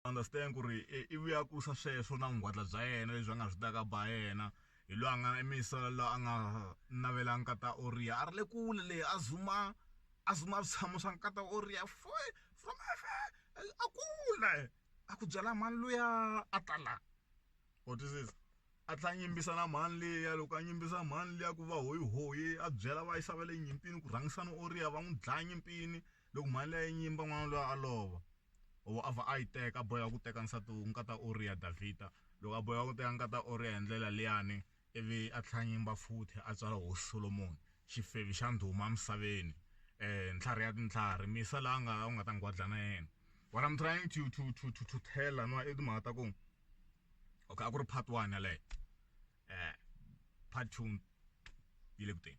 understand ku ri i vu ya kusa sweswo na vungwadla bya yena lebyi va nga byi taka ba yena hi loyi a nga i muyisela la a nga navela nkata oriya a ri le kule le a zuma a zuma switshamo swa nkata oriya foe from far a kule a ku byela mhani luya a ta la wa twisisa a tlhe a yimbisa na mhani liya loko a yimbisa mhani liya ku va hoyihoyi a byela va yisa va le nyimpini ku rhangisani oriya va n'wi dlaya nyimpini Loko mhani a yi nyimba n'wana luya a lova, or a vha a yi teka, a boheka ku teka nsati nkata Uriya, Davhida loko a boheka ku teka nkata Uriya hi ndlela liyani ivi a tlhela a nyimba futhi a tswala hosi Solomoni, xifevi xa ndhuma emisaveni, ntlhari ya tintlhari, misa la a nga a wu nga ta nghwadla na yena. What I'm trying to to to to to tell laniwa i timhaka ta ku, okay a ku ri part one yaleyo, part two yi le ku teni.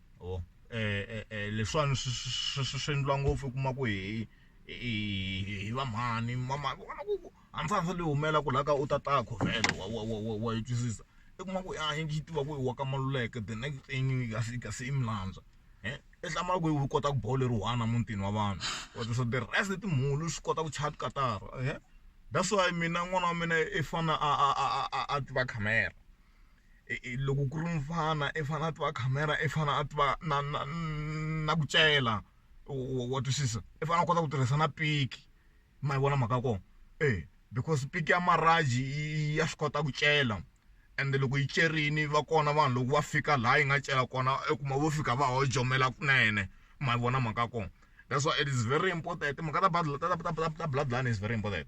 o eh, eh, leswiwani swi endliwa ngopfu u kuma ku hi hi va mhani mama vona ku hansandza leyi humela ku laha ka u tatako vhele wa wa wa wa yi twisisa i kuma ku a yi yi tiva ku i wa ka maluleke the next thing yi ka se ka se i milandza e i hlamala ku yi kota ku boho leri one mutini wa vanhu wa twisisa the rest timhulu swi kota ku chaya tikatara e that's why mina n'wana wa mina i fana a a a a a tiva khamera loko ku ri mufana i fanele a tiva khamera i fanele a tiva na na na ku cela wa twisisa i fanele a kota ku tirhisa na piki ma yi vona mhaka ya kona eya because piki ya marhaji ya swi kota ku cela ende loko yi cerile va kona vanhu loko va fika laha yi nga cela kona u kuma vo fika va ho jomela kunene ma yi vona mhaka ya kona that's why it is very important timhaka ta ta ta ta ta bloodline is very important.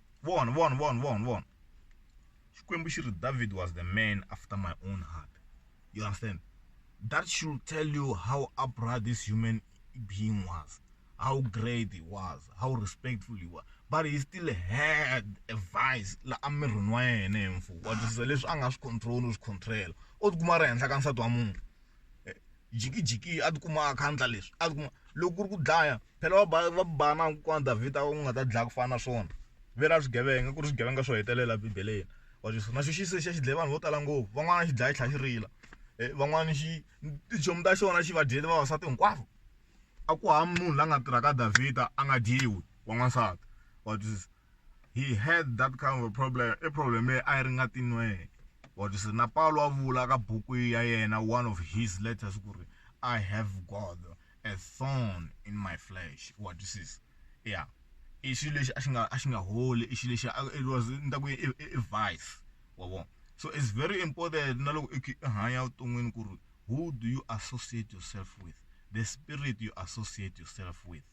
vona vona vona vona vona xikwembu xi ri david was the man after my own heart you understand that should tell you how upright this human being was how great he was how respectful he was but he still had a vice la emirini wa yena hi mfumo wa twisisa leswi a nga swi control u swi control o tikuma ri henhla ka nsati wa munhu Jikijiki a tikuma a kha a endla leswi a tikuma loko ku ri ku dlaya phela va ba va ku ba na kokwana Davhida u nga ta dlaya ku fana na swona ve ra swigevenga ku ri swigevenga swo hetelela bibeleni wa swi vona na xo xi se xi ya xi dlaya vanhu vo tala ngopfu van'wana xi dlaya xi tlhela xi rila van'wana xi tichomi ta xona xi va dyele vavasati hinkwavo a ku hava munhu la nga tirhaka Davhida a nga dyiwi wa n'wansati wa twisisa. he had that kind of a problem i problem leyi a yi ri nga tinweke but se na pawulo wa vula ka buku ya yena one of his letters ku ri i have god a thorn in my flesh wa twisisa ya i xilo lexi a xi nga a xi nga holi i xilo lexi it was ni ta ku i vice wa vona so it's very important na loko i hanya evuton'wini ku ri who do you associate yourself with the spirit you associate yourself with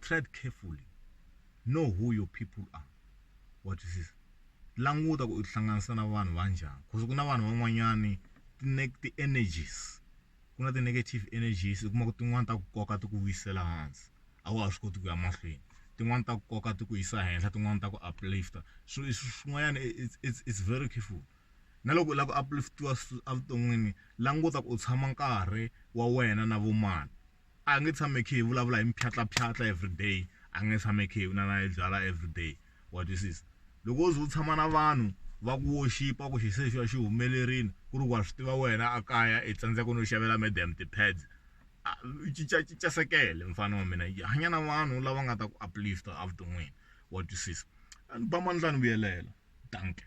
Tread carefully, know who your people are, wa twisisa languta ku u tihlanganisa na vanhu va njhani because ku na vanhu van'wanyani ti-energies ku na ti-negative energies u kuma ku tin'wani ta ku koka ti ku vuyisela hansi a wa ha swi koti ku ya mahlweni tin'wani ta ku koka ti ku yisa henhla tin'wani ta ku uplifter so i swin'wanyana it's very careful na loko u lava ku upliftiwa evuton'wini languta ku u tshama nkarhi wa wena na vo mani. a nge tshami hi kha hi vulavula hi mintlhantlhatlhantlha everyday a nge tshami hi kha hi vula na hi byalwa everyday wa twisisa loko wo ze u tshama na vanhu va ku wo xipa ku xi se xi va xi humelerile ku ri wa swi tiva wena a kaya i tsandzeka no xavela madam ti-pads a u cincacinca sekele mufana wa mina yi hanya na vanhu lava nga ta ku uplift evuton'wini wa twisisa ni ba mandla ni vuyelela dankie.